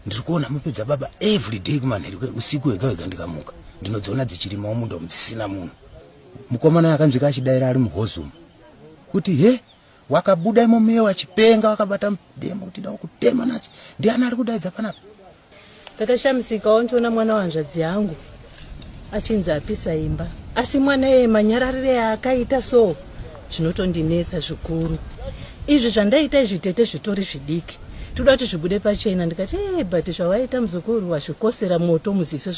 ndiri kuona mupe dzababa every day kumanheru usiku wega wega ndikamuka ndinodziona dzichirimawo munda umu dzisina munhu mukomana yakanzwika achidaira ari muhozumu kuti he wakabuda imo muye wachipenga wakabata mudemo kuti dawo kutema natsi ndiani ari kudaidza panapa ndakashamisikawo ndichiona mwana wanzvadzi yangu achinzi apisa imba asi mwana eye manyararire aakaita so zvinotondinetsa zvikuru izvi zvandaita izvi tete zvitori zvidiki toda kuti zvibude pachena ndikati ee eh, but zvawaita muzukuru wazvikosera moto muziso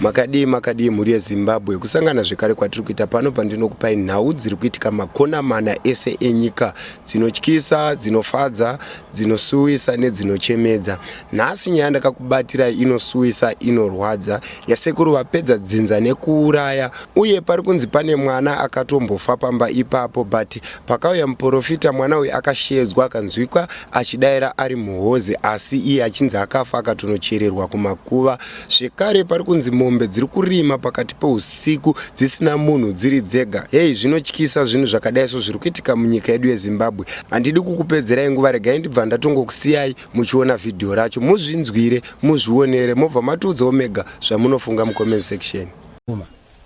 makadii makadii mhuri yezimbabwe kusangana zvekare kwatiri kuita pano pandinokupai nhau dziri kuitika makona mana ese enyika dzinotyisa, dzinofadza, dzinosuwisa nedzinochemedza. Nhasi nyaya ndakakubatirai inosuwisa, inorwadza, yasekuru vapedza dzinza nekuuraya uye pari kunzi pane mwana akatombofa pamba ipapo but pakauya muporofita mwana uyu akasheedzwa akanzwikwa achidaira ari muhozi asi iye achinzi akafa akatonochererwa kumakuva Zvekare pari kunzi mombe dziri kurima pakati peusiku dzisina munhu dziri dzega. Heyi zvinotyisa zvinhu zvakadai so zviri kuitika munyika yedu yeZimbabwe. Handidi kukupedzerai nguva regai ndibva ndatongokusiyai muchiona vhidhiyo racho muzvinzwire muzvionere mobva matiudzawo mega zvamunofunga mucomment section.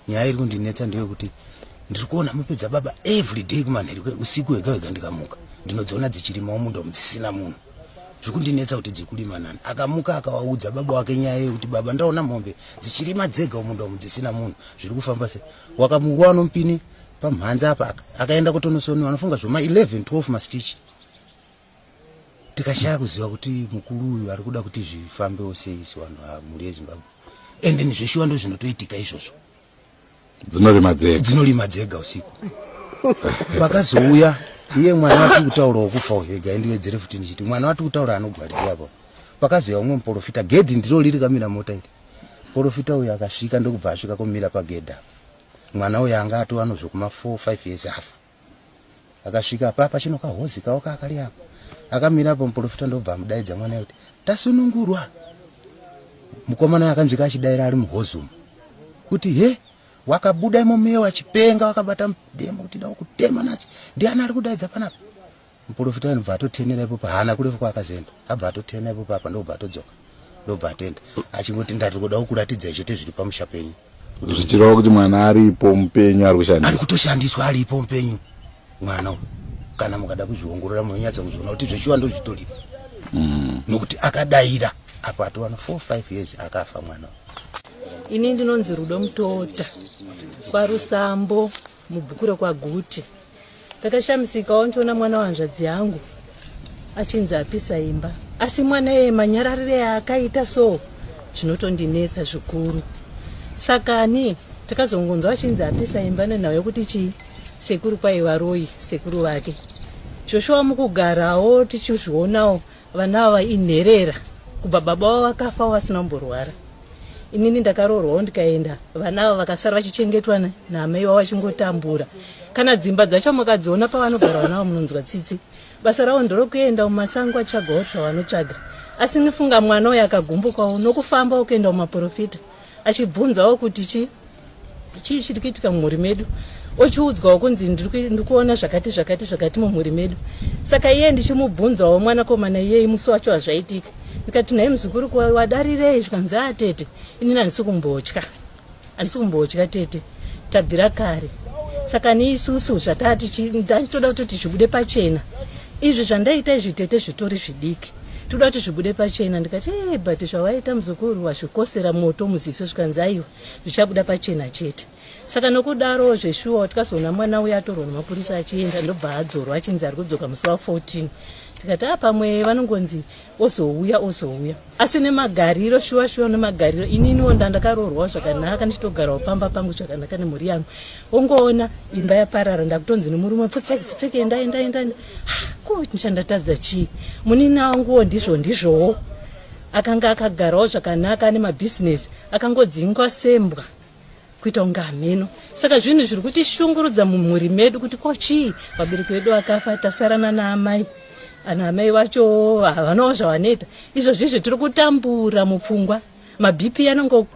nyaya iri kundinetsa ndeyekuti ndiri kuona mupe dzababa every day kumanheri usiku hega hega ndikamuka ndinodziona dzichirimawo munda umu dzisina munhu zviri kundinetsa kuti dzikurima nani akamuka akawaudza baba wake nyaya yekuti baba ndaona mombe dzichirima dzega umunda umu dzisina munhu zviri kufamba se wakamuwa nomupini pamhanza apa akaenda kutonosoni vanofunga zvoma 11 12 mastich tikashaya kuziva kuti mukuru uyu ari kuda kuti zvifambewo sei sevanhu vamhuri yezimbabwe ende nizveshuwa ndo zvinotoitika izvozvo dzinorima dzega dzinorima dzega usiku pakazouya iye mwana watiri kutaura wokufa uyu rega indiwedzere futi ndichiti mwana watiri kutaura anogwariri apo pakazouya umwe muporofita gedhi ndiro riri kamira mota iri porofita uyu akasvika ndokubva asvika komira pagedha mwana uyu anga atova nozvekuma 4 5 years afa akasvika apa pachino kahozi kawo kakari apo akamira apo muprofita ndobva amudaidza mwana kuti tasunungurwa mukomana akanzwika achidaira ari muhozi umu kuti he wakabuda imomeyo wachipenga wakabata mudemo kuti dawo kutema natsi ndiani ari kudaidza panapa Muporofita anobva atotenera ipopo haana kurefu kwaakazoenda abva atotena ipopo apa ndobva atodzoka ndobva atenda achingoti ndati kuda kukuratidzai chete zviri pamusha penyu zvichireva kuti mwana aripo mupenyu ari kushandiswa ari kutoshandiswa aripo mupenyu mwana uyu kana mukada kuzviongorora munonyatsa kuzviona kuti zveshuwa ndozvitoripo mm. nokuti akadaira apo atowana four five years akafa mwana uyu ini ndinonzi rudo mutota kwarusambo mubhuku rekwaguti Ndakashamisikawo ndichiona mwana wahanzvadzi yangu achinzi apisa imba asi mwana eye manyararire yaakaita so zvinotondinetsa zvikuru sakani takazongonzwa achinzi apisa imba nenhau yokuti chii sekuru kwaiva royi sekuru vake zvoshuwa mukugarawo tichizvionawo Vana ava inherera kubva baba vavo vakafa vasina kumborwara. Inini ndakaroorwawo ndikaenda vana ava vakasara vachichengetwa naamai wavo vachingotambura. Kana dzimba dzacho makadziona pavanogara vana ava munonzwa tsitsi. Basa ravo nderokuenda mumasango achitsvagawo zvavanotsvaga. Asi nifunga mwana uyu akagumbukawo nokufamba okuenda kumaporofita. achibvunzawo kuti chi chii chiri kuitika mumhuri medu ochiudzwawo kunzi ndiri kuona zvakati zvakati zvakati mumhuri medu saka iye ndichimubvunzawo mwanakomana iyei musi wacho hazvaitika ndikati nhai muzukuru wadarirei zvikanzi a ah, tete inini handisi kumbotya handisi kumbotya tete tabvira kare saka niisusu zvatati ndatoda kuti zvibude pachena izvi zvandaita izvi tete zvitori zvidiki Tinoda kuti zvibude pachena ndikati hey, but zvawaita muzukuru wazvikosera moto muziso zvikanzi aiwa zvichabuda pachena chete saka nokudaro zveshuwa watikazoona mwana uya atorwa nemapurisa achienda ndobva adzorwa achinzi ari kudzoka musi wa 14 tikati a pamwe vanongonzi ozouya ozouya asi nemagariro shuwa shuwa nemagariro ininiwo ndandakaroorwawo zvakanaka ndichitogarawo pamba pangu zvakanaka nemhuri yangu ongoona imba yaparara ndakutonzi nemurume pfutseki pfutseki enda enda enda ko ndichandatadza chii munina wanguwo ndizvo ndizvowo akanga akagarawo zvakanaka ane mabhizinesi akangodzingwa sembwa kuita kunge hameno saka zvinhu zviri kutishungurudza mumhuri medu kuti ko chii vabereki vedu vakafa tasarana naamai ana amai vacho havanawo zvavanoita izvozvi izvo tiri kutambura mupfungwa mabp anongo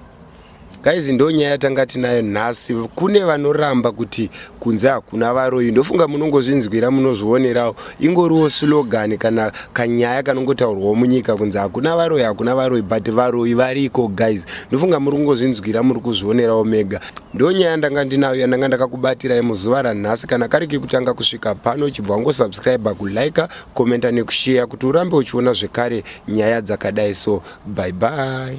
guys ndonyaya tanga tinayo nhasi kune vanoramba kuti kunze hakuna varoyi ndofunga munongozvinzwira munozvionerawo ingoriwo slogan kana kanyaya kanongotaurwawo munyika kunze hakuna varoyi hakuna varoyi but varoyi variko guys ndofunga muri kungozvinzwira muri kuzvionerawo mega ndonyaya ndanga ndinayo yandanga ndakakubatirai muzuva ranhasi kana kari kekutanga kusvika pano chibva wangosubscribe kulike Commenter nekusheya kuti urambe uchiona zvekare nyaya dzakadai so. Bye bye.